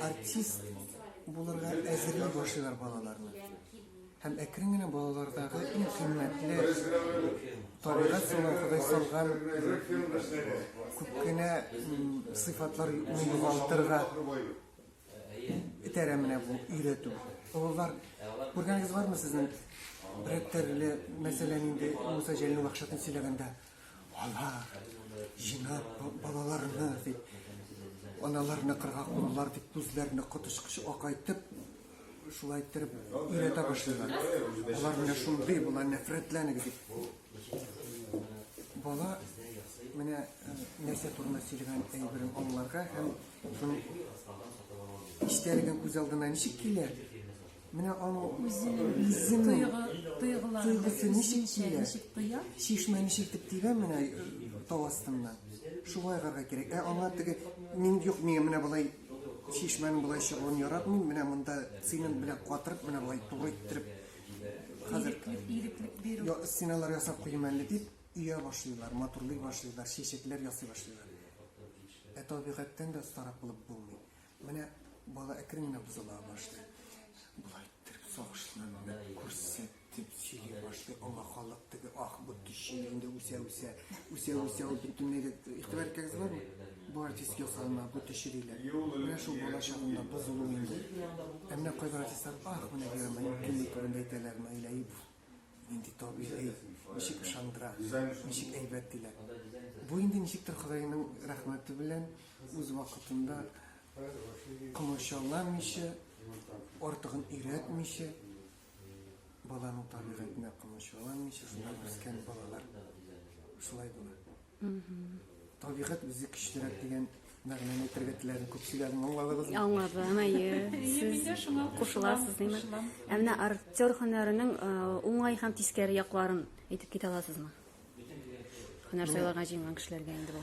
артист булырга әзерли башлыйлар балаларны. Һәм әкрен генә балалардагы иң кыйммәтле табигать сулар Ходай салган күп кенә сыйфатлар югалтырга итәрә менә бу өйрәтү. Олылар, күргәнегез бармы сезнең? Рәттәрле мәсәлән инде Муса Җәлил вахшатын сөйләгәндә Алар, җинап, балаларны, дип, аналарны кырга куллар, дип, күзләрне котышкыч акайтып, шулай иттереп өйрәтә башлыйлар. Алар менә шундый, болар нәфрәтләнек, дип. Бала менә э, нәрсә турында сөйләгән әйберен аңларга һәм шуның истәлеген күз алдына ничек килә, Менә аның үзенең йөзенең тойгысы ничек тия? Чишмә ничек итеп тибә менә э, тау астыннан. Шулай гарга кирәк. Ә аңа теге мин юк миңа менә болай чишмәнең болай чыгуын яратмыйм. Менә монда цемент белән катырып, менә болай туры иттереп хәзер иреклек бирү. Я стеналар ясап куйым әле дип өя башлыйлар, матурлый башлыйлар, чәчәкләр ясый башлыйлар. Ә табигатьтән дә остарак булып булмый. Менә бала әкрен генә бозыла башлый. Болай иттереп сагышланды, күрсәтеп сөйли башлый. Аңа халык теге ах бу төче инде үсә үсә, үсә үсә ул бөтенләй дә игътибар иткәнегез бармы? Бу артист ясалма, бу төче диләр. Менә шул бала чагында бозылу инде. Ә менә кайбер артистлар ах менә дигән менә кемне турында әйтәләр, Наиләев. Нинди табигый, ничек ышандыра, ничек әйбәт диләр. Бу инде ничектер Ходайның рәхмәте белән үз вакытында комачауламыйча, артыгын өйрәтмичә, баланың табигатенә комачауламыйча сынап үскән балалар шулай була. Табигать үзе көчлерәк дигән мәгънәне әйтергә теләдем. Күпчеләр аңладыгызмы? Аңладым, әйе. Сез кушыласыз, димме? Ә менә актер һөнәренең э, уңай һәм тискәре якларын әйтеп китә аласызмы? Һөнәр сайларга җыенган кешеләргә инде бу.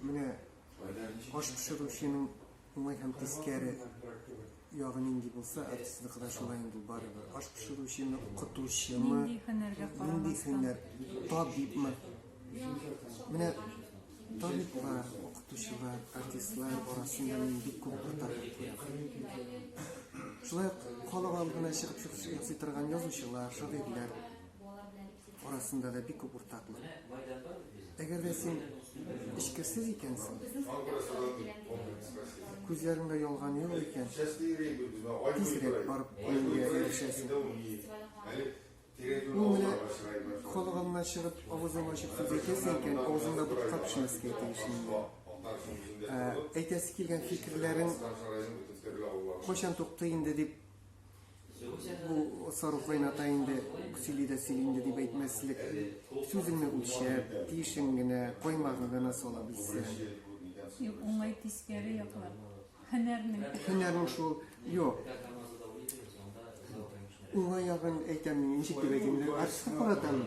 Менә аш пешерүченең Уңай һәм тискәре ягы нинди булса, артистныкы да шулай инде барыбер. Аш пешерүчеме, укытучымы, Нинди һөнәргә нинди карамастан. һөнәр, табибмы? Менә табиблар, укытучылар, артистлар арасында мин бик күп уртаклык күрәм. Шулай ук халык алдына чыгып шук- ясый торган язучылар, шагыйрьләр. арасында да бик күп уртаклык. Әгәр дә син эчкерсез икәнсең, күзләреңдә ялган юк икән, тизрәк барып үлемгә ирешәсең. Ул менә калганына чыгып, авызын ачып сүз әйтәсең икән, авызыңда ботка пешмәскә тиешли. Ә, әйтәсе килгән фикерләрең кайчан тукты инде дип бу сарыф айната инде сөйли дә сөйли инде дип әйтмәслек сүзеңне үлчәп тиешен генә коймагын гына сала белсәң юк уңай тискәре яклар һөнәрнең һөнәрнең шул юк уңай ягын әйтәм ничек дип әйтим инде артистка каратам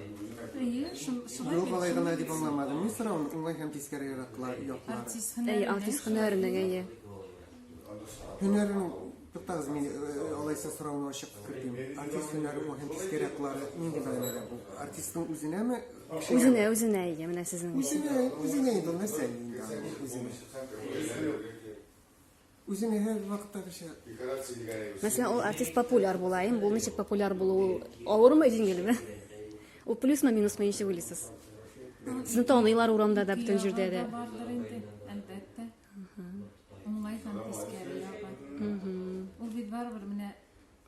әйе шулай юк алай гына дип аңламадым мин соравын уңай һәм тискәре яклар артист һөнәренең әйе Һөнәрен туктагыз, мин э, алайса сорауны ачык кертим. Артист һөнәре ул һәм тискәре яклары нинди мәгънәдә бу? Артистның үзенәме? Үзенә, үзенә ия, менә сезнең өчен. Үзенә, үзенә инде нәрсә инде аны, үзенә. Үзенә һәр вакытта кеше Мәсәлән, ул артист популяр була, им бу ничек популяр булу авырмы, җиңелме? Ул плюсмы, минусмы ничек уйлыйсыз? Сезне таныйлар урамда да, бөтен җирдә дә. Бардыр инде, әлбәттә. Уңай һәм тискәре ягы. Ул бит барыбер менә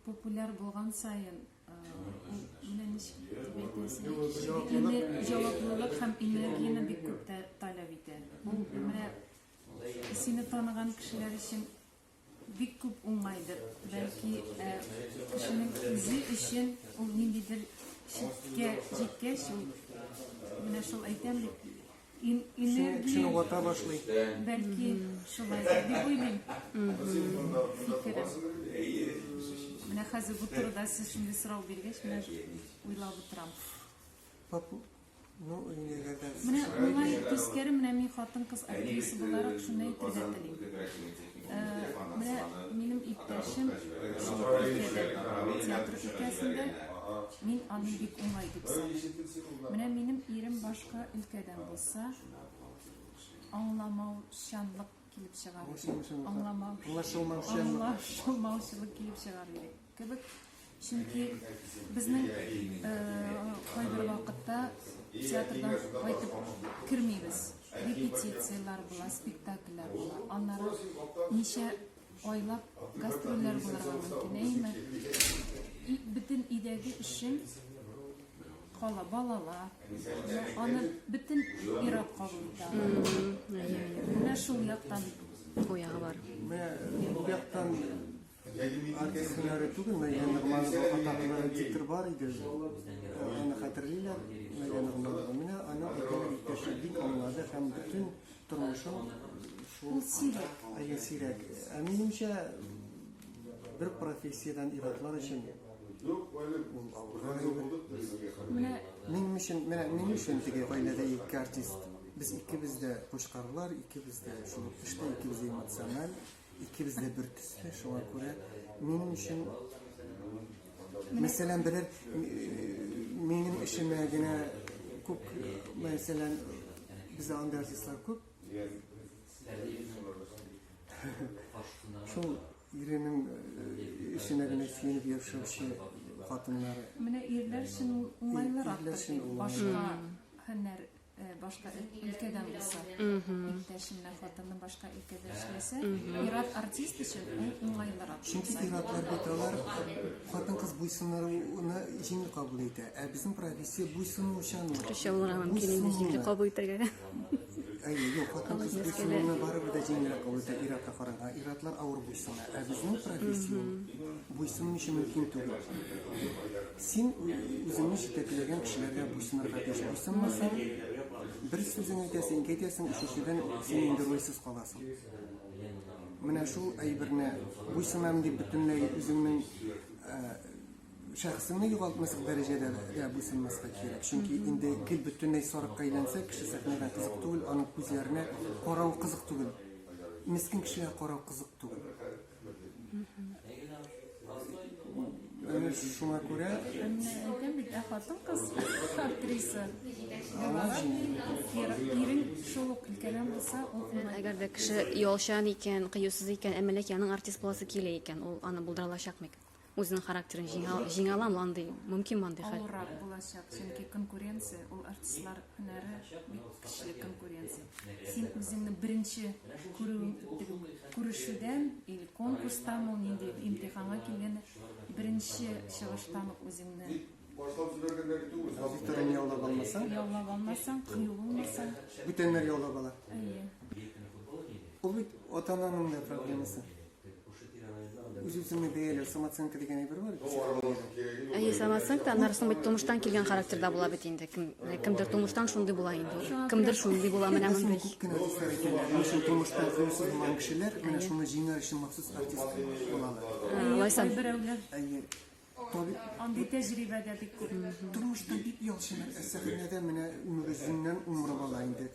популяр булган саен менә ничек дип әйтәсең җаваплылык һәм энергияне бик күп таләп итә. Менә сине таныган кешеләр өчен Бик күп уңайдыр. Бәлки э, кешенең үзе өчен ул ниндидер чиккә җиткәч, ул менә шул әйтәм бит, ин- Кешене энергия вата башлый. бәлки шулай дип уйлыйм. Фикерем. Менә хәзер бу турыда сез шундый сорау биргәч, менә уйлап утырам. Поп- Ну, өйләгәдә. Менә моңа тискәре менә мин хатын-кыз актриса буларак шуны әйтергә телим. Менә минем иптәшем театр өлкәсендә мин аны бик уңай дип саныйм. Менә минем ирем башка өлкәдән булса, аңламаучанлык килеп чыгар. Аңламау, аңлашылмаучылык килеп чыгар иде. Кебек, чөнки безнең э, кайбер вакытта театрдан кайтып кермибез. Репетицияләр була, спектакльләр була. Аннары ничә айлап гастрольләр булырга мөмкин, әйме? Бөтен идәге өчен кала балала. Аны бөтен ирак кабул итә. Менә шул яктан. Бу ягы бар. Менә бу яктан Артист һөнәре түгел, Мәйдә Нигманова атаклы диктор бар иде. Аны хәтерлиләр, Мәйдә Нигманова. Менә аны әйтәләр иптәше бик аңлады һәм бөтен тормышын шул сирәк. Әйе, сирәк. Ә минемчә, бер профессиядән иратлар өчен Минем өчен, менә минем өчен теге гаиләдә ике артист. Без икебез дә пушкарлар, икебез дә шул эштә, икебез дә эмоциональ. Икебез дә бер төсле, шуңа күрә минем өчен мәсәлән берәр минем эшемә генә күп мәсәлән бездә андый артистлар күп шул иренең эшенә генә сөенеп яшәүче хатыннар менә ирләр өчен уңайлырак башка һөнәр Э, башка өлкәдән булса иптәшеннән хатынның башка өлкәдә эшләсә ир-ат артист өчен ул уңайлырак чөнки ир-атлар бит алар хатын-кыз буйсынуны җиңел кабул итә ә безнең профессия буйсынучан төрлечә булырга мөмкин инде җиңел кабул итәргә әйе юк хатын-кыз буйсынуны барыбер дә җиңелрәк кабул итә ир-атка караганда ир-атлар авыр буйсына ә безнең профессия буйсыну өчен мөмкин түгел Син үзеңне җитәкләгән кешеләргә буйсынырга тиеш. Буйсынмасаң, бер сүзен әйтәсең, ике әйтәсең, өченчедән син инде рольсез каласың. Менә шул әйберне буйсынам дип бөтенләй үзеңнең шәхесеңне югалтмаслык дәрәҗәдә дә буйсынмаска кирәк. Чөнки инде гел бөтенләй сарыкка әйләнсә, кеше сәхнәгә кызык түгел, аның күзләренә карау кызык түгел. Мескен кешегә карау кызык түгел. Шуңа күрә... Әйтәм бит, ә хатын кыз актриса. Ирен шул ук өлкәдән булса, ул Әгәр дә кеше ялчан икән, кыюсыз икән, ә милек яның артист буласы килә икән, ул аны булдыра алачакмы икән? Үзенең характерын җиңә, җиңә аламы андый, мөмкин андый хәл? Авыррак булачак, чөнки конкуренция, ул артистлар һөнәре бик көчле конкуренция. Син үзеңне беренче күрү, күрешүдән, или конкурстан ул нинди имтиханга килгән, беренче чыгыштан ук үзеңне башлап җибәргән дә бит ул. Викторияне яулап алмасаң, яулап алмасаң, кыю булмасаң, бүтәннәр яулап ала. Әйе. Ул бит ата-ананың да проблемасы. Үз-үзеңне бәяләү, самооценка дигән әйбер бар. Әйе, самооценка, аннары соң бит тумыштан килгән характерда була бит инде. Кем, кемдер тумыштан шундый була инде. Кемдер шундый була, менә мондый. Күп кенә артистлар икәннәр. Менә шул тумыштан кыюсыз булган кешеләр, менә шуны җиңәр өчен махсус артист булалар. Лайсан. Әйе. Андый тәҗрибә дә бик күп. Тормышта бик яхшы нәрсә. Сәхнәдә менә Нуризиннән умырып ала инде.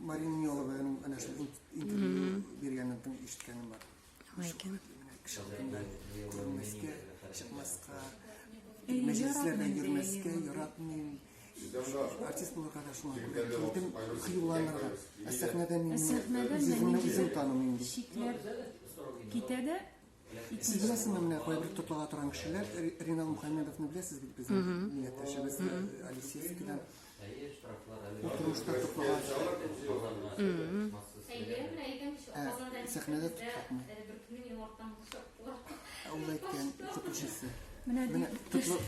Марина Нелованың әнә шул интервью биргәнен тын ишеткәнем бар. Лайкин. Кеше алдында күрмәскә, чыкмаска, мәҗлесләрдә йөрмәскә яратмыйм. Артист булырга да шуңа күрә килдем, хыюланырга. Ә сәхнәдә мин үземне үзем танымыйм. Шикләр китә дә Сез беләсезме, менә кайбер тотыла торган кешеләр, Ринал Мухаммедовны беләсез бит безнең милләттәшебез Алисеевскидан. Утырышта тотыла. Сәхнәдә тотакмы? Ул әйткән, укытучысы. Менә тотыла.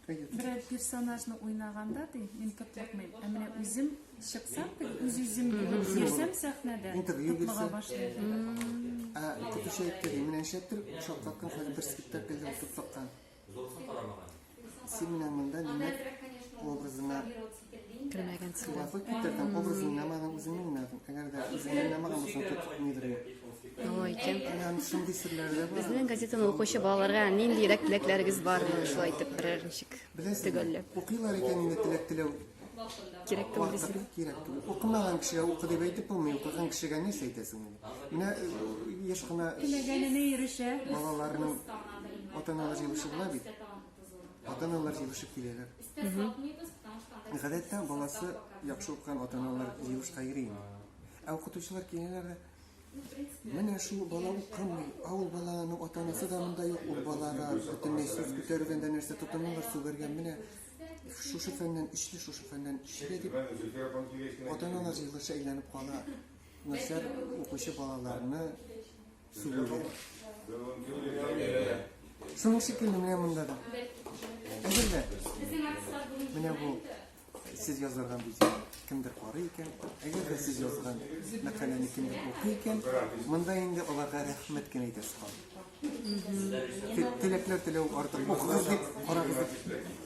Берәр персонажны уйнаганда ди, мин тотлыкмыйм. Ә менә үзем чыксам, үз-үзем йөрсәм сәхнәдә, тотлыга башлыйм. Ә көтүче әйтте, менә шәптер, шатлаткан хәле бер спектакльдә тотлыккан. Син менә монда нинә образына Кремәгәнсең. Кулафык китердем, образын намадым, үзеңнең намадым. Әгәр дә үзеңнең намаган булсаң, тот нидерем. Ой, икән. Ягъни шундый серләр дә бар. Безнең газетаны укучы балаларга нинди рәк теләкләрегез бар? Шулай итеп берәр ничек төгәлләп. Укыйлар икән инде теләк теләү. Кирәк түгел дисең. Кирәк түгел. Укымаган кешегә укы дип әйтеп булмый, укыган кешегә ни әйтәсең инде? Менә яшь кына теләгәненә ирешә. Балаларның ата-аналары җыелышып була бит. Ата-аналар җыелышып киләләр. Гадәттә баласы яхшы укыган ата-аналар җыелышка йөри. Ә укытучылар киләләр дә Менә шул бала укымый, ә ул баланың ата-анасы да монда юк, ул балага бөтенләй сүз күтәргәндә нәрсә тотыналар, сүгәргә менә шушы фәннән ишле, шушы фәннән ишле дип ата-аналар җыелышы әйләнеп кала. Нәрсә укучы балаларны Сынып шикелле менә монда да. Әзерлә. Менә бу сез язылган видео кемдер карый икән, әгәр дә сез язган мәкаләне кемдер укый икән, монда инде аларга рәхмәт кенә әйтәсе калды. Теләкләр теләү артык. Укыгыз дип, карагыз дип.